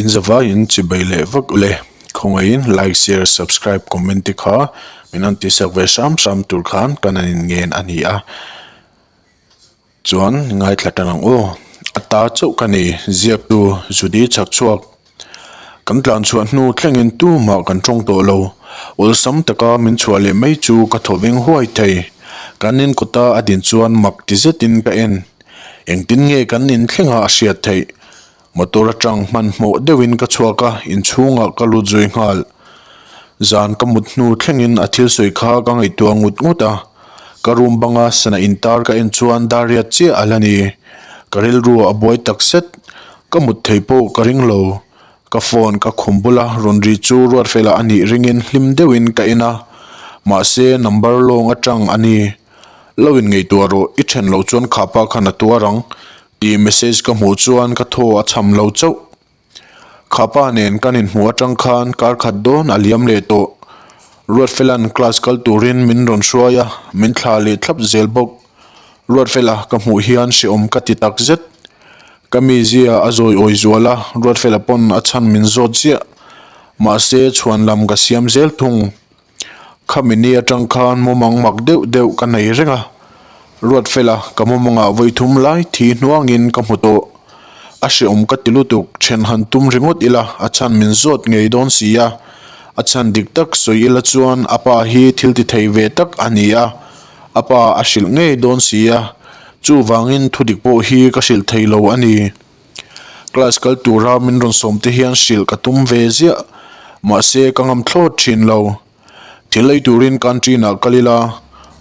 Inzavai in chibai leh vak le khawngaih in like share subscribe comment te kha min han ti sak ve hram hram tur khan ka nan in ngen a ni a chuan ngaithla tan ang aw a ta chauh ka ni ziak tu zudi chak chhuak kan tlan chhuah hnu thleng in tu mah kan tawng tawh lo awlsam taka min chhuah leh mai chu ka thawveng huai thei kan in kut a a din chuan mak ti zet in ka en. Engtin nge kan inthlengah a hriat theih? Motor atang hmanhmawh deuhin ka chhuak a, inchhungah ka lut zui nghal. Zan ka mut hnu thlengin a thil sawi kha ka ngaihtuah ngut ngut a. Ka room banga sana intar ka en chuan Dariat chiah a la ni. Ka rilru a buai takzet, ka mut thei pawh ka ring lo. Ka phone ka khum bul a, rawn ri chu Ruatfela a nih ringin hlim deuhin ka en a, mahse number lawng atang a ni. Lo in ngeitua rawh, i then loh chuan khapa khan a tuar ang tih message ka hmuh chuan ka thaw a chham lo chauh. Khapa nen kan inhmuh atang khan kar khat dawn a liam leh tawh. Ruatfela'n class kal turin min rawn hruai a, min thla leh thlap zel bawk. Ruatfela ka hmuh hian hreawm ka ti tak zet. Ka mizia a zawi awi zual a, Ruatfela pawn a chhan min zawt ziah. Mahse, chhuan lam ka siam zel thung. Khami ni atang khan mawmang mak deuh deuh ka nei reng a. Ruatfela ka mawmangah vawi thum lai thi hnuangin ka hmu tawh. A hreawm ka ti lutuk, then han tum ringawt ila a chhan min zawt ngei dawn si a. A chhan dik tak sawi ila chuan a pa hi thiltithei ve tak a ni a. A pa a hrilh ngei dawn sia, chuvangin thudik pawh hi ka hrilh thei lo a ni. Class kal tura min rawn sawmte hian hrilh ka tum ve ziah, mahse ka ngam thlawt thin lo. Thil lei turin canteen ah kal ila,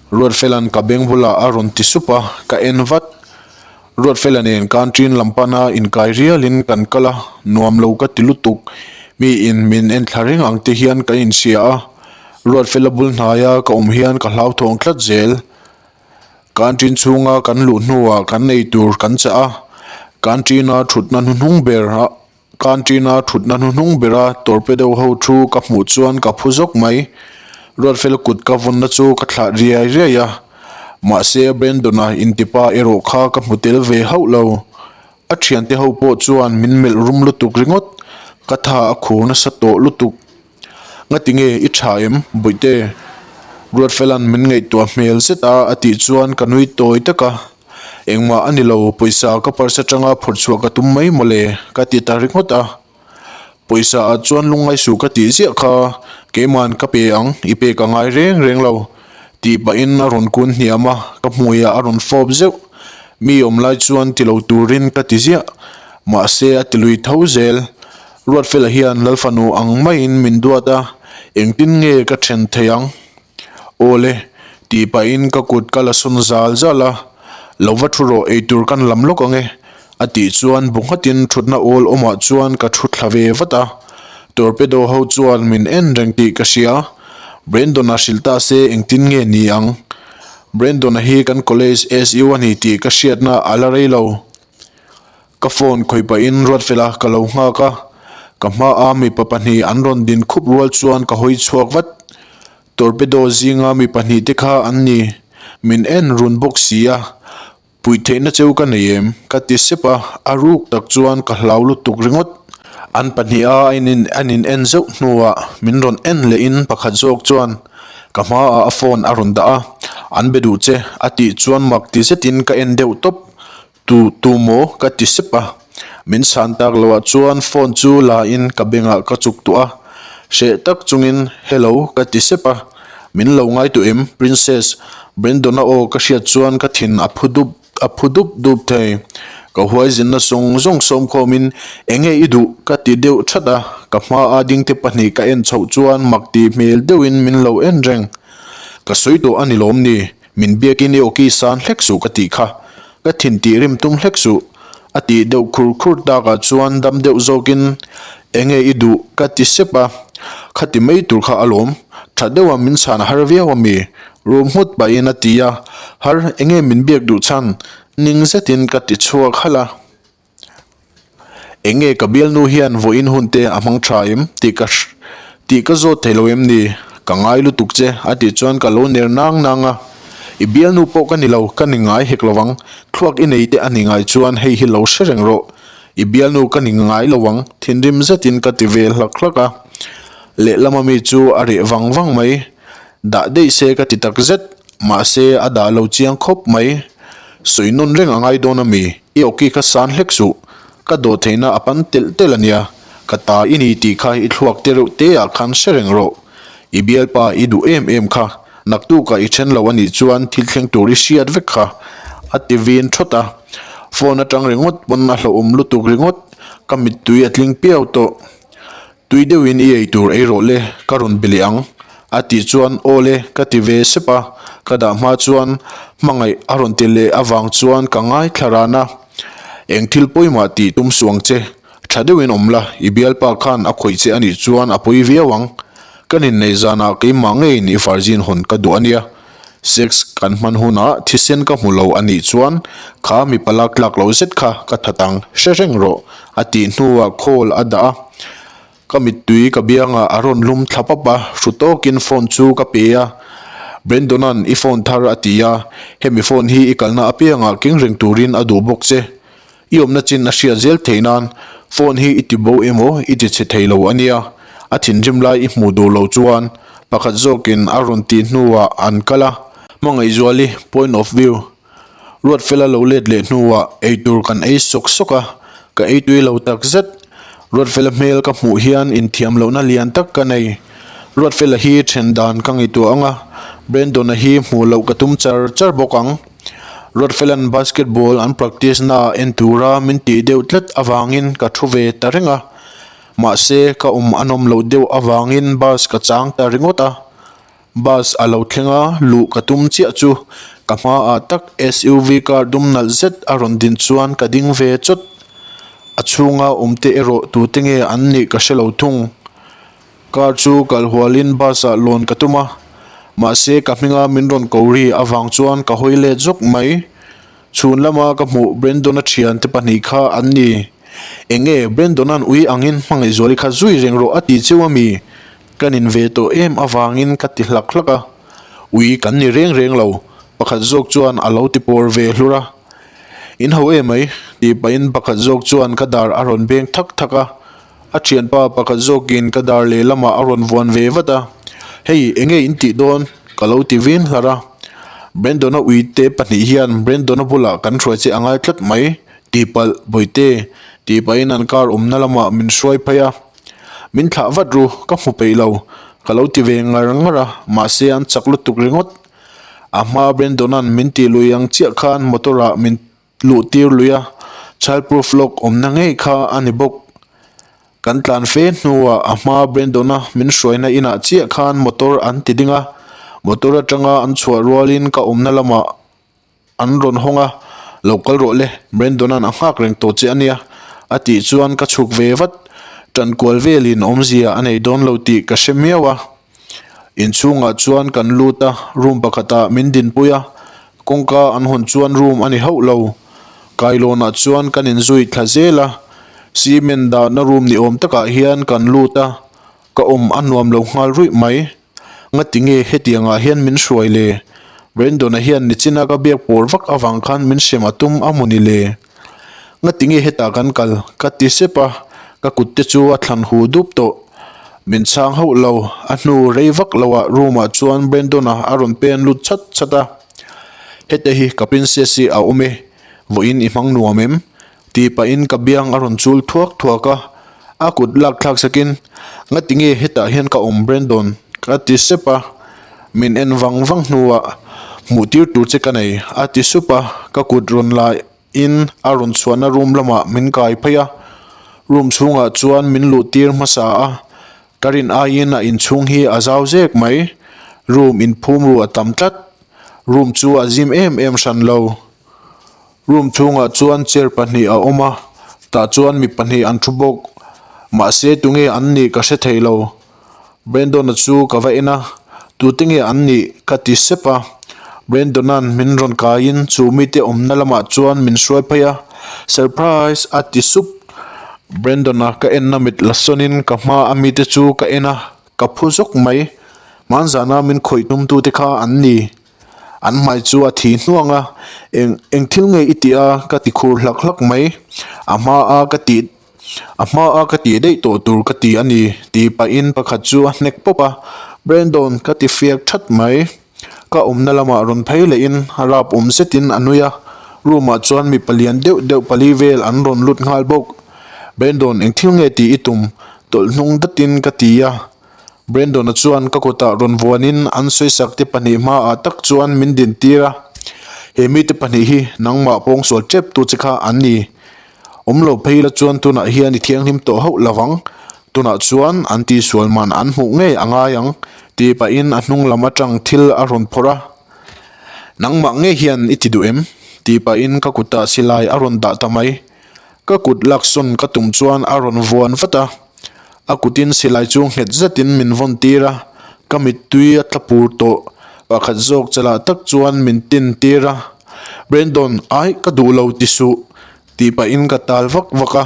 Ruatfelan ka beng bulah a rawn ti sup a, ka en vat. Ruatfela nen country-in lam pana inkai rialin kan kal a, nuam lo ka ti lutuk. Mi in min en thla reng ang te hian kan insiah a, Ruatfela bul hnaia ka awm hian ka hlauthawng tlat zel. Country-in chhunga kan luh hnuah kan ei tur kan chah a, country-ina thutna hnuhnung ber a Canteen-a thutna hnu hnung bera torpedo ho thu ka hmuh chuan ka phu zawk mai. Ruatfel kut ka vunna chu ka thlah riai riai a. Mahse, Brandon-a intipa erawh kha ka hmu tel ve hauh lo. A thiante ho pawh chuan min melh rum lutuk ringawt, ka tha a khur nasa tawh lutuk. Nga ti nge i tha em Buihte? Ruatfela'n min ngaihtuah hmel zet a, a tih chuan ka nui tawi tak a, engmah a ni lo, pawisa ka parsa tanga phawrh chhuah ka tum mai maw le? ka ti ta ringawt a, pawisa ah chuan lungngai suh ka tih ziah kha, keima'n ka pe ang, i pek a ngai reng reng lo, tih pahin a rawn kun hniam a, ka hmuiah a rawn fawp zeuh, mi awm lai chuan ti lo turin ka ti ziah, mahse a ti lui tho zel. Ruatfela hian Lalfanu ang maiin min duat a, engtin nge ka then thei ang? Aw le, tih pahin ka kut ka la sun zal zal a, lo va thu rawh eitur kan lam lawk ang e, a tih chuan bu nghatin thutna awl awmah chuan ka thu thla ve vat a, Torpedo ho chuan min en reng tih ka hria, Brendona hrilh ta se engtin nge ni ang? Brendona hi kan college SU a ni tih ka hriatna a la rei lo. Ka phone khawih pahin ruat fel a, ka lo nghak a, ka hma a mipa pahnih an rawn din khup rual chuan ka hawi chhuak vat. Torpedo zinga mi pahnih te kha an ni, min en run bawk si a, puih theihna cheu ka nei em? ka ti sep a, a ruk tak chuan ka hlau lutuk ringawt. An pahnih a an in en zeuh hnuah min rawn en leh in pakhat zawk chuan ka hma ah a phone a rawn dah a, an be duh che a tih chuan mak ti zet in ka en deuh tawp, Tu tu maw ka ti sep a, min san tak lo ah chuan phone chu la in ka bank ah ka chuk tawh a, hreh tak chungin hello ka ti sep a, min lo ngai tawh em princess, Brendon a aw ka hriat chuan ka thin a phu dup a phu dup dup thei, ka huaizinna sawng zawng sawmkhawmin enge i duh ka ti deuh that a, ka hma a dingte pahnih ka en chhoh chuan mak ti hmel deuhin min lo en reng, ka sawi tawh a ni lawm ni? Min biakin i awkisan hlek suh ka tih kha, ka thin tih rim tum hlek suh, a tih deuh khur khur takah chuan dam deuh zawkin, Enge i duh? ka ti sep a, khati mai tur kha a lawm tha deuh a, min chhan har viau a mi? Rum nghut pahin a ti a, Har, enge min biak duh chhan? ning zetin ka ti chhuak halh a. Eng nge ka bialnu hian vawh in hun te a hmang tha em? tih ka tih ka zawt thei lo em ni? Ka ngai lutuk che a tih chuan ka lo ner nang nang a, i bialnu pawh ka ni lo, ka ni ngai hek lo vang, thluak i nei te a ni ngai chuan hei hi lo hre reng rawh, i bialnu ka ni ngai lo vang, thinrim zet in ka ti ve hlak hlak a, lehlam a mi chu a reh vang vang mai, dah daih se ka ti tak zet, mahse a dah lo chiang khawp mai, sawi nawn reng a ngai dawn a mi. I awki ka san hlek suh, ka dawh theihna a pan telh telh a nia, ka ta i ni tih kha i thluak te reuh te ah khan hre reng rawh. I bialpa i duh em em kha, naktuk ah i then lo a nih chuan thil thleng tur i hriat vek kha, a ti vin thawt a. Phone atang ringawt pawn a hlauhawm lutuk ringawt, ka mittui a tling piau tawh. Tui deuhin i ei tur ei rawh le, ka rawn be leh ang, a tih chuan aw le ka ti ve sep a, ka dah hma chuan hmangaih a rawn ti leh avang chuan ka ngaithla ran a, eng thil pawi mah tih tum suang che, tha deuhin awm la, i bialpa khan a khawih che a nih chuan a pawi viau ang, ka ninneih zanah keimah ngeiin i farzin hawn ka duh a nia. Sex kan hman hunah thisen ka hmu lo a nih chuan kha mi pala tlak lo zet kha ka that ang hre reng rawh, a tih hnuah call a dah a, ka mittui ka biangah a rawn lum thla pap a, hru tawkin phone chu ka pe a, Brendona'n i phone thar a ti a, hemi phone hi i kalna apiangah keng reng turin a duh bawk che. I awmna chin a hriat zel thei nan, phone hi i ti bo emaw i ti chhe thei lo ania, a thinrim lai i hmuh duh lo chuan pakhat zawkin a rawn tih hnuah an kal a, Hmangaihzual i point of view, Ruatfela lo let leh hnuah eitur kan ei sawk sawk a, ka ei tui lo tak zet, Ruatfela hmel ka hmuh hian inthiam lohna lian tak ka nei, Ruatfela hi then dan ka ngaihtuah ang a, Brendon-a hi hmuh loh ka tum char char bawk ang. Rothlalan basketball an practice na en tura min tih deuh tlat avangin ka thu ve ta reng a, mahse ka awm a nawm loh deuh avangin bus ka chang ta ringawt a. Bus a lo thlenga luh ka tum chiah chu ka hma ah tak SUV car dum nalh zet a rawn din chuan ka ding ve chawt. A chhunga awmte erawh tute nge an nih ka hre lo thung. Car chu kal hualin bus ah lawn ka tum a, mahse ka hminga min rawn ko ri avang chuan ka hawi let zawk mai. Chhun lama ka hmuh Brendon a thiante pahnih kha an ni. Eng nge Brendona'n ui angin hmangaihzual i khat zui reng rawh a ti cheu a mi? Kan in ve tawh em avangin ka ti hlak hlak a. Ui kan ni reng reng lo, pakhat zawk chuan a lo ti pawr ve hlur a. In ho emai? tih pahin pakhat zawk chuan ka dar a rawn beng thak thak a. A ṭhianpa pakhat zawkin ka dar lehlamah a rawn vuan ve vat a, Hei, enge in tih dawn? ka lo ti vin hlar a. Brendona uite pahnih hian Brendona bulah kan hruai che a ngai tlat mai. Tihpalh, Bawi'te, tih pahin an kar awmna lamah min hruai phei a. Min thlah vat ru, ka hmu peih lo, ka lo ti ve ngar ngar a, mahse an chak lutuk ringawt. A hma Brendona'n min tih luih ang chiah khan motor-ah min luhtir lui a, child proof lawk awmna ngei kha a ni bawk. Kan tlan fe hnuah a hma Brendona min hruaina inah chiah khan motor an ti ding a, motor atanga an chhuah rualin ka awmna lamah an rawn hawng a, lo kal rawh le, Brendona'n a nghak reng tawh che a nia, a tih chuan ka chhuk ve vat, tankual velin awmzia a nei dawn lo tih ka hre miau a. Inchhungah chuan kan lut a, room pakhatah min dinpui a, kawngka an hawn chuan room a ni hauh lo. Kailawnah chuan kan inzui thla zel a, cement dahna room ni awm takah hian kan lut a, ka awm a nuam lo nghal ruih mai. Ngati nge hetiangah hian min hruai le? Brendon-a hian nichin a ka biak pawr vak avang khan min hrem a tum a mu ni le? Ngatinge hetah kan kal? Ka ti sep a, ka kutte chu a thlan huh dup tawh. Min chhang hauh lo, a hnu rei vak lohah room-ah chuan Brendon-a a rawn pen lut chat chat a. Hete hi ka princess-i a awm e, vawiin i hmang nuam em? Tih pahin ka biang a rawn chul thuak thuak a. A kut lak thlak sakin, Ngati nge hetah hian ka awm Brandon? a ti sep a, min en vang vang hnuah hmuhtir tur che ka nei a ti sup a, ka kut rawn lahin a rawn chhuahna room lamah min kai phei a, room chhungah chuan min luhtir hmasa a, ka rin aiin a inchhung hi a zau zek mai, room inphum ru a tam tlat, room chu a zim em em hran lo. Room chhungah chuan chair pahnih a awm a, tah chuan mi pahnih an thu bawk. Mahse tunge an nih ka hre thei lo. Brandon-a chu ka va en a, tute nge an nih? ka ti sep a. Brandon-a'n min rawn kaiin chu mite awmna lamah chuan min hruai phei a. Surprise! a ti sup. Brandon-a ka enna mit la sawnin ka hmaa mite chu ka en a, ka phu zawk mai. Hmanzana min khawih tumtute kha an ni. An hmai chu a thi hnuang a, Eng, eng thil nge i ti a? ka ti khur hlak hlak mai. A hma a ka ti, a hma a ka ti daih tawh tur ka ti a ni, ti pahin pakhat chu a hnek pawp a. Brandon, ka ti fiak that mai. Ka awmna lamah rawn phei lehin a rap awm zetin a nui a. Room-ah chuan mipa lian deuh deuh pali vel an rawn lut nghal bawk. Brandon, eng thil nge tih i tum? Tawlh hnung datin ka ti a. Brendona chuan ka kutah rawn vuanin an sawisakte pahnih hmaah tak chuan min dintîr a, He mite pahnih hi nangmah pawng sual ṭep tu che kha an ni. Awm lo phei ila chuan tunah hian i thianghlim tawh hauh lo vang. Tunah chuan an tisual man an hmuh ngei a ngai ang, ti pahin a hnunglam aṭang thil a rawn phawrh a. Nangmah nge hian i ti duh em? ti pahin ka kutah silai a rawn dah ta mai. Ka kut laksawn ka tum chuan a rawn vuan vat a, a kutin silai chu nghet zetin min vawn tir a, ka mittui a tla pur tawh pakhat zawk chalah tak chuan min tin tir a, Brandon, aih ka duh lo ti suh tih pahin ka tal vak vak a,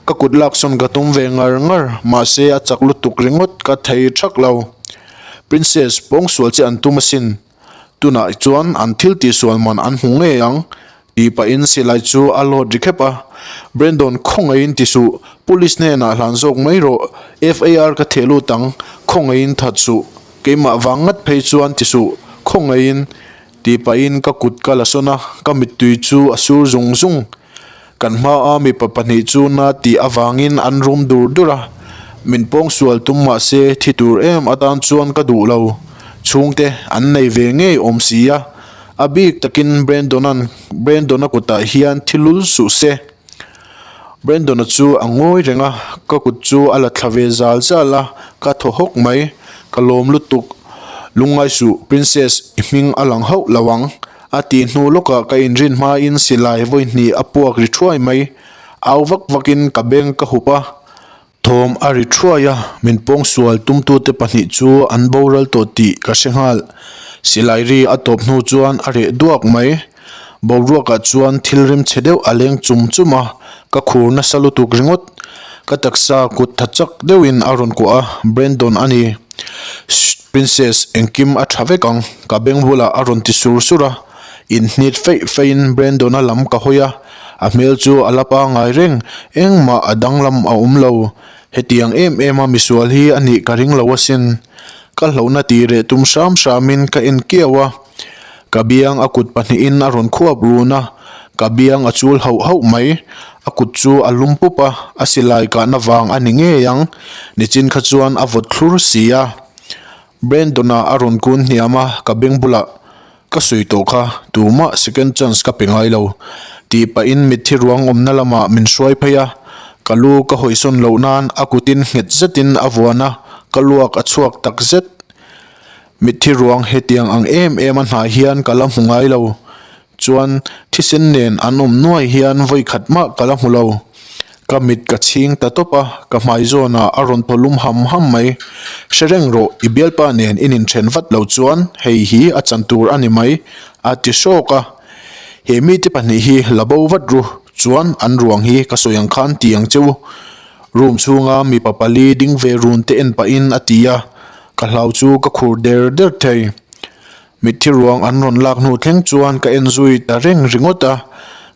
ka kut laksawn ka tum ve ngar ngar mahse a chak lutuk ringawt ka thei ṭhak lo, Princess pawngsual che an tum asin. Tunah chuan an thil tihsual man an hmu ngei ang tih pahin silai chu a lawt ri khep a. Brendon, Khawngaihin ti suh, Police hnenah hlan zawk mai rawh, FAR ka theh lut ang, khawngaihin that suh, keimah vang ngat phei chuan ti suh, khawngaihin tih pahin ka kut ka la sawn a, ka mittui chu a sur zung zung. Kan hmaa mipa pahnih chu Nati avangin an rum dur dur a, min pawng sual tum mahse thi tur em atan chuan ka duh lo. Chhungte an nei ve ngei awm si a, a bik takin Brandon-a'n Brandon-a kutah hian thi lul suh se. Brandon-a chu a ngawi reng a, ka kut chu a la thla ve zal zal a, ka thaw hawk mai. Ka lawm lutuk, lungngai suh, Princess i hming a lang hauh lo ang. A tih hnu lawkah ka inrin hmain silai vawihnih a puak ri thuai mai. Au vak vakin ka beng ka hup a, thawm a ri thuai a, min pawng sual tumtute pahnih chu an boral tawh tih ka hre nghal. Silai ri a tawp hnu chuan a reh duak mai. Boruakah chuan thil rim che deuh a leng chum chum a, ka khur nasa lutuk ringawt. Ka taksa kut tha chak deuhin a rawn kuah a, Brendon a ni. Shh. Princess, engkim a tha vek ang, ka beng bulah a rawn ti sur sur a, in hnit feih feihin Brandon-a lam ka hawi a, a hmel chu a la pa ngai reng, engmah a danglam a awm lo, hetiang em em a misual hi a nih ka ring lo asin, ka hlauhna tih reh tum hram hramin ka en kiau a, Ka biang a kut pahnihin a rawn khuap run a, ka biang a chul hauh hauh mai. A kut chu a lum pup a, a silai kahna vang a ni ngei ang. Nichin kha chuan a vawt thlur si a. Brendona a rawn kun hniam a, ka beng bulah, Ka sawi tawh kha, tumah second chance ka pe ngai lo. Tih pahin mitthi ruang awmna lamah min hruai phei a, ka lu ka hawisawn loh nan a kutin nghet zetin a vuan a, ka luak a chhuak tak zet. Mitthi ruang hetiang ang em em a hnai hian ka la hmu ngai lo, chuan thisen nen an awm nuai hian vawi khat mah ka la hmu lo. Ka mit ka chhing ta tawp a, ka hmai zawnah a rawn thaw lum ham ham mai. Hre reng rawh, i bialpa nen i nin ṭhen vat lo chuan hei hi a chan tur a ni mai, a ti hrawk a. He mite pahnih hi la bo vat ru chuan an ruang hi ka sawi ang khan ti ang che u. Room chhunga mipa pali ding ve run te en pahin a ti a, Ka hlau chu ka khur der der thei. Mitthi ruang an rawn lak hnu thleng chuan ka en zui ta reng ringawt a,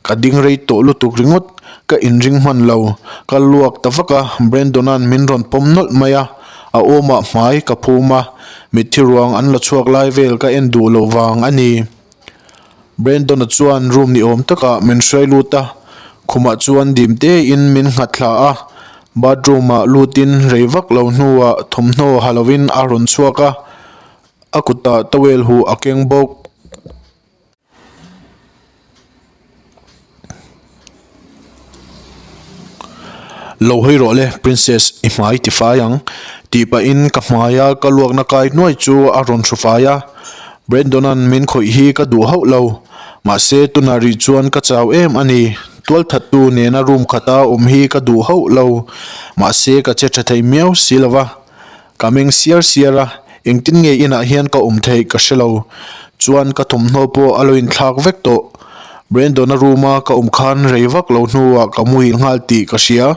ka ding rei tawh lutuk ringawt. Ka inring hman lo, ka luak ta vak a, Brandon-a'n min rawn pawm nawlh mai a, a awmah hmai ka phum a, mitthi ruang an la chhuak lai vel ka en duh loh vang a ni. Brendona chuan room ni awm takah min hruai lut a, khumah chuan dim tein min nghat thla a. Bathroom ah lutin rei vak lo hnuah thawmhnaw ha loin a rawn chhuak a, a kutah towel huh a keng bawk. Lo hawi rawh le Princess i hmai ti fai ang tih pah in ka hmai a ka luak na kai nuai chu a rawn hru fai a Brendona'n min khawih hi ka duh hauh lo mahse tunah rih chuan ka chau em a ni tual that tu nena room khat a awm hi ka duh hauh lo mahse ka che tha thei miau si lo va. Ka meng siar siar a, engtin nge inah hian ka awm theih ka hrelo chuan ka thawmhnaw pawh a lo inthlak vek tawh. Brandon-a room-a ka awm khan rei vak lo hnuah ka muhil nghal tih ka hria.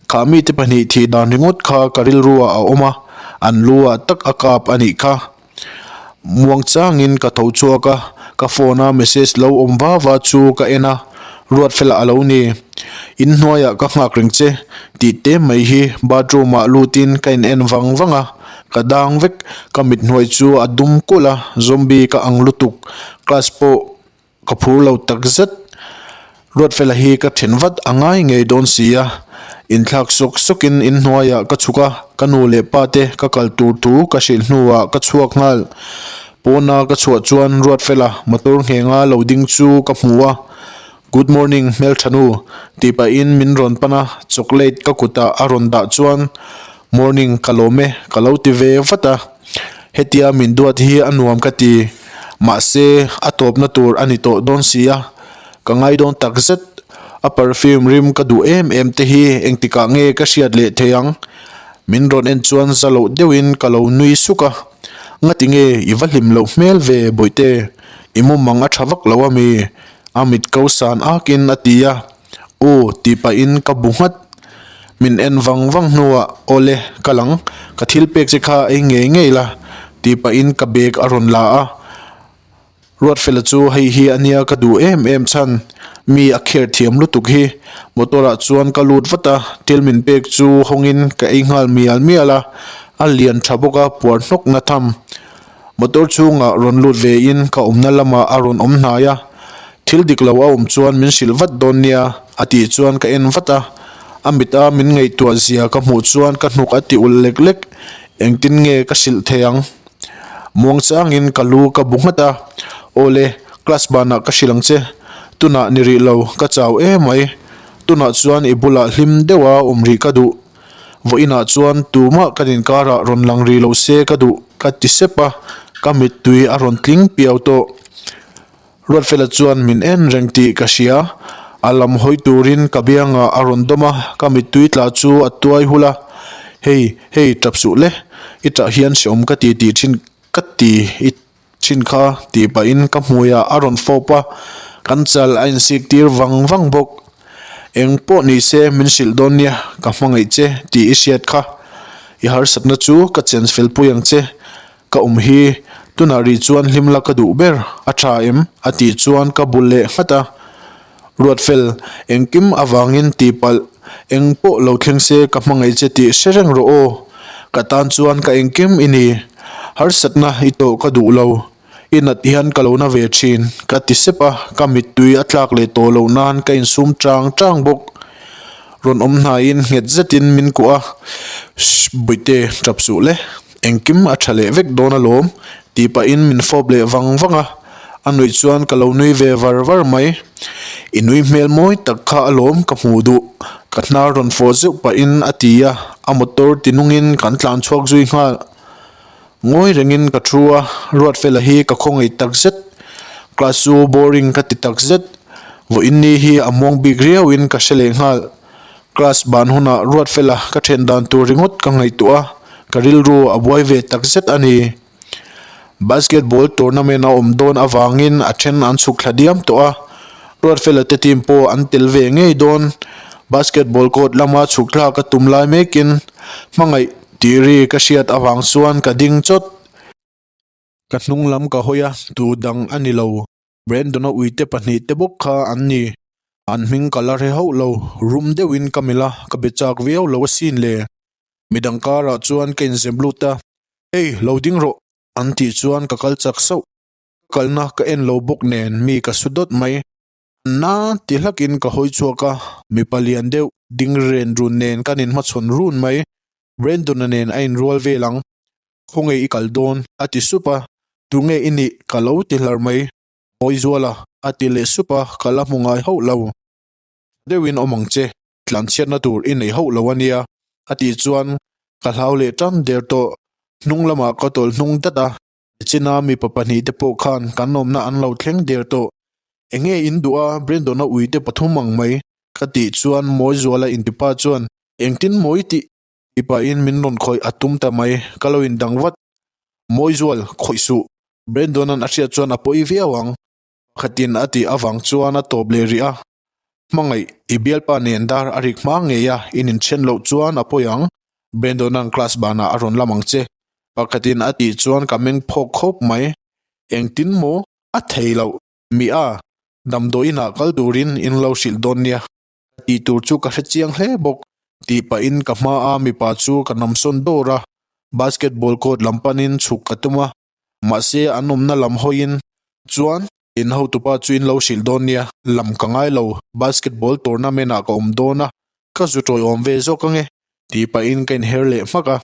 Kha mite pahnih thih dan ringawt kha ka rilruah a awm a, an lu ah tak a kap a nih kha. Muangchangin ka tho chhuak a, ka phone a message lo awm va va chu ka en a, Ruatfela a lo ni? In hnuaiah ka nghak reng che, tih te mai hi bathroom ah lutin ka in en vang vang a, ka dang vek, ka mit hnuai chu a dum kulh a, zombie ka ang lutuk, class pawh Ka phur lo tak zet. Ruatfela hi ka then vat a ngai ngei dawn si a, inthlak suk sukin in hnuaiah ka chhuk a, ka nu leh pa te ka kal tur thu ka hrilh hnuah ka chhuak nghal. Pawna ka chhuah chuan Ruatfela motor nghengah lo ding chu ka hmu a, Good morning Hmelthanu, tih pahin min rawn pan a, chocolate ka kutah a rawn dah chuan Morning, ka lawm e, ka lo ti ve vat a, hetia min duat hi a nuam ka ti, mahse a tawpna tur a ni tawh dawn si a, ka ngai dawn tak zet, a perfume rim ka duh em em te hi engtikah nge ka hriat leh thei ang, min rawn en chuan za loh deuh in ka lo nui suk a, ngati nge i va hlim loh hmel ve Bawihte, i mawmang a tha vak lo a mi? a mit ko san ak in a ti a. U, tih pahin ka bu nghat. Min en vang vang hnuah, Aw le, ka lang. Ka thil pek che kha ei ngei ngei la. Tih pahin ka bag a rawn la a. Ruatfela chu hei hi ania ka duh em em chhan. Mi a kher thiam lutuk hi. Motor ah chuan ka lut vat a. Thil min pek chu hawngin ka ei nghal mial mial a. A lian tha bawk a, puar hnawkna tham. Motor chhungah rawn lut ve in ka awmna lamah a rawn awm hnai a, thil dik lo a awm chuan min hrilh vat dawn nia a tih chuan ka en vat a, a mit a min ngaihtuah zia ka hmuh chuan ka hnuk a tiulh lek lek, engtin nge ka hrilh thei ang? Muangchang in ka lu ka bu nghat a, aw le, class banah ka hrilh ang che, tunah ni rih lo ka chau emai, tunah chuan i bulah hlim deuha awm rih ka duh. Vawiinah chuan tumah kan inkarah rawn lang rih loh se ka duh ka ti sep a, ka mittui a rawn tling piau tawh. Ruatfela chuan min en reng tih ka hria, a lam hawi turin ka biangah a rawn dawm a, ka mittui tla chu a tuai hul a, Hei, hei, tap suh le, i tah hian si awm ka ti tih thin ka ti i Chin kha tih pahin ka hmuiah a rawn fawp a, kan chal a insik tir vang vang bawk. Eng pawh ni se min hrilh dawn nia, ka hmangaih che tih i hriat kha. I harsatna chu ka change fel pui ang che. Ka awm hi tunah ri chuan hlim la ka duh ber, a tha em? a tih chuan ka bu leh nghat a. Ruatfel, engkim avangin tihpalh eng pawh lo thleng se ka hmangaih che tih hre reng rawh aw. Ka tan chuan ka engkim i ni, harsatna i tawh ka duh lo, i nat hian ka lo na ve thin ka ti sep a, ka mittui a tlak leh tawh loh nan ka insum chang chang bawk. Rawn awm hnaiin nghet zetin min kuah a, Shh, buaite, ṭap suh le. Engkim a tha leh vek dawn alawm, tih pahin min fawp leh vang vang a, a nuih chuan ka lo nui ve var var mai. I nui hmel mawi tak kha alawm ka hmuh duh, ka hnar rawn fawh zeuh pahin a ti a, a motor ti nungin kan tlan chhuak zui nghal. Ngawi rengin ka thu a, Ruatfela hi ka khawngaih tak zet, class chu boring ka ti tak zet, vawiinni hi a muang bik riauin ka hre leh nghal. Class ban hunah Ruatfela ka then dan tur ringawt ka ngaihtuah a, ka rilru a buai ve takzet a ni. Basketball tournament a awm dawn avangin a then an chhuk thla diam tawh a, Ruatfela te team pawh an tel ve ngei dawn. Basketball court lama chhukthlak a tum lai mekin hmangaih tih ri ka hriat avang chuan ka ding chawt. Ka hnung lam ka hawi a, tu dang a ni lo. Brandon-a uite pahnih te bawk kha an ni. An hming ka la hre hauh lo. Rum deuhin ka melh a, ka be chak viau lo asin le. Midang karah chuan ka inzem lut a, Hei, lo ding rawh! an tih chuan ka kal chak sauh. Ka kalna ka en lo bawk nen mi ka su dawt mai. Anna, ti hlakin ka hawi chhuak a, mipa lian deuh ding Rendun nen kan inhmachhawn run mai. Renduna nen a inrual vel ang, khawnge i kal dawn? a ti sup a, tunge i nih? ka lo ti hlar mai. Ngawi zual a, a ti leh sup a, ka la hmu ngai hauh lo. Tha deuhin awm ang che, tlanchhiatna tur i nei hauh lo a nia, a tih chuan ka hlau leh ṭam der tawh, hnung lamah ka tawlh hnung dat a, China mipa pahnih te pawh khan kan awmna an lo thleng der tawh. Enge in duh a, Brendona ui te pathum ang mai ka tih chuan Mawizuala intipa chuan engtin mawi tih ti pahin min rawn khawih a tum ta mai ka lo indang vat. Mawizual khawih suh, Brendona'n a hriat chuan a pawi viau ang. Khatin a tih avang chuan a tawp leh rih a, Hmangaih, i bialpa nen dar a rik hmang ngei a, in inchhen loh chuan a pawi ang, Brandon-a an class banah a rawn lam ang che. Pakhatin a tih chuan ka meng phawk khawp mai, Engtin maw? A thei loh, Mia, damdawi inah kal turin in lo hrilh dawn nia, ka tih tur chu ka hre chiang hle bawk, tih pahin ka hmaa mipa chu ka namsawn dawr a, basketball court lam panin chhuk ka tum a, Mahse, an awmna lam hawiin chuan in hotupa chu in lo hrilh dawn nia, lam ka ngai lo, basketball tournament-ah ka awm dawn a, ka zu tawi awm ve zawk ange, tih pahin ka inher leh hmak a.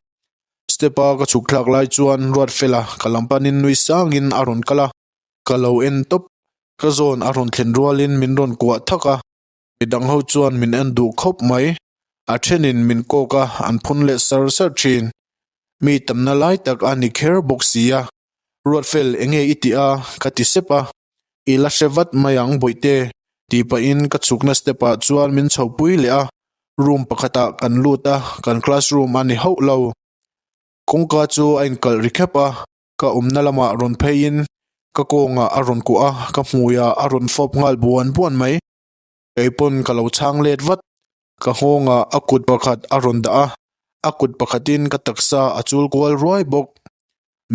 Step-a ka chhuk thlak lai chuan Ruatfela ka lam panin nui sangin a rawn kal a, ka lo en tawp, ka zawn a rawn thlen rualin min rawn kuah thak a. mi dang ho chuan min en duh khawp mai, a thenin min kawk a an phun leh sar sar thin. Mi tamna lai tak a ni kher bawk si a, Ruatfel enge i ti a ka ti sep a, i la hre vat mai ang Bawihte ti pahin ka chhukna step ah chuan min chho pui leh a, room pakhatah kan lut a, kan classroom a ni hauh lo. Kawngka chu a inkalh ri khep a. ka awmna lamah rawn pheiin ka kawngah a rawn kuah a, ka hmuiah a rawn fawp nghal buan buan mai. Keipawn ka lo chhang let vat, ka nghawngah a kut pakhat a rawn dah a, a kut pakhatin ka taksa a chul kual ruai bawk.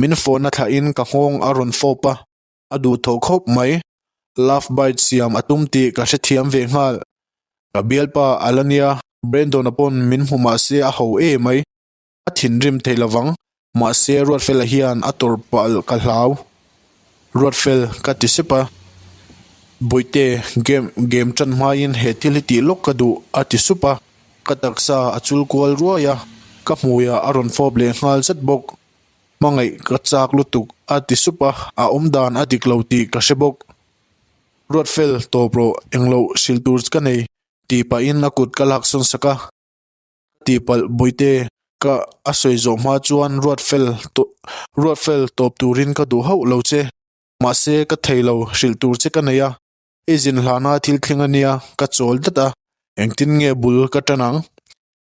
Min fawhna thlahin ka nghawng a rawn fawp a, a duh tho khawp mai. Love bite siam a tum tih ka hrethiam ve nghal. Ka bialpa Alania, Brendona pawn min hmu mahse a ho e mai. A thinrim theih lo vang. Mahse, Ruatfela hian a tawrhpalh ka hlau. Ruatfel, ka ti sep a. Bawihte, game, game tan hmaiin he thil hi tih lawk ka duh, a ti sup a. Ka taksa a chul kual ruai a, ka hmuiah a rawn fawp leh nghal zet bawk. Hmangaih ka chak lutuk, a ti sup a, a awm dan a dik lo tih ka hre bawk. Ruatfel, tawp rawh, engloh hrilh tur ka nei, tih pahin a kut ka laksawn sak a. Tih palh Bawihte, ka a sawi zawh hma chuan ruat fel tawh ruat fel tawp turin ka duh hauh lo che. Mahse ka thei lo hrilh tur che ka nei a, i zin hlana thil thleng a nia ka chawl dat a, engtin nge bul ka tan ang?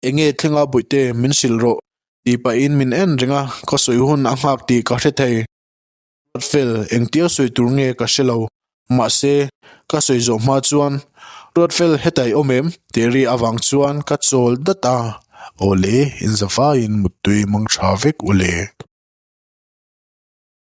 Enge thleng a Bawihte min hrilh rawh? Tih pahin min en reng a, khawsawi hun a nghak tih ka hre thei. Ruatfel, engtir sawi tur nge ka hre lo, mahse, ka sawi zawh hma chuan, Ruatfel hetaih awm em? tih ri avang chuan ka chawl dat a, Awle, in zavaiin muttui mangtha vek u le.